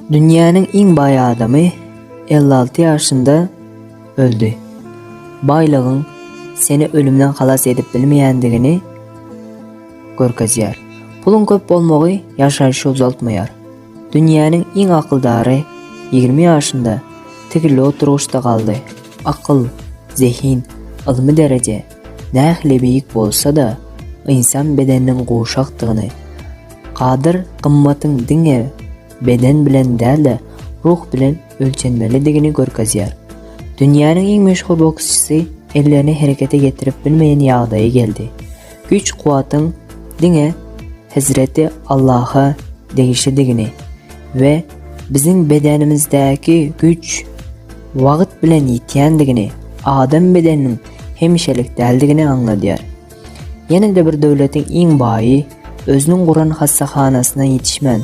Dünýäniň iň baý adamy elli alty ýaşynda öldi. Baýlygyň seni ölümden halas edip bilmeýändigini görkezýär. Puluň köp bolmagy ýaşaýşy uzaltmaýar. Dünýäniň iň akyldary ýigrimi ýaşynda tigirli oturgyçda galdy. Akyl, zehin, ylmy dereje, Nähili beýik bolsa-da, ynsan bedeniniň guşakdygyny, gadyr gymmatyň diňe beden bilen däl-de, ruh bilen ölçenmelidigini görkezýär. Dünýäniň iň meşhur boksçysy ellerini herekete getirip bilmeýän ýagdaýa geldi. Güýç-kuwwatyň diňe Hezreti Allaha degişlidigini we biziň bedenimizdäki güýç wagt bilen ýitýändigini, adam bedeniniň hemişelik däldigini aňladýar. Ýene-de bir döwletiň iň baýy özüniň guran hassahanasyna ýetişmän,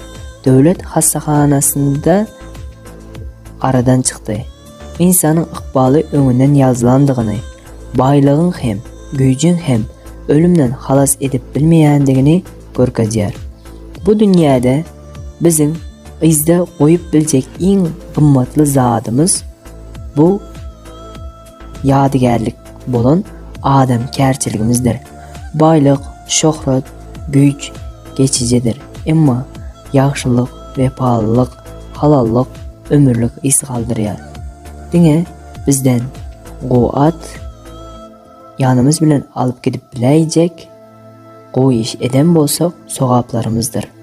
döwlet hassahanasynda aradan çykdy. Ynsanyň ykbaly öňünden ýazylandygyny, baýlygyň hem, güýjüň hem ölümden halas edip bilmeýändigini görkezýär. Bu dünýäde biziň yzda goýup biljek iň gymmatly zadymyz bu ýadygärlik bolan adamkärçiligimizdir. Baýlyk, şöhrat, güýç geçijidir, emma ýagşylyk, wepalylyk, halallyk ömürlik yz galdyrýar. Diňe bizden gowy at ýanymyz bilen alyp gidip biläýjek gowy iş eden bolsak sogaplarymyzdyr.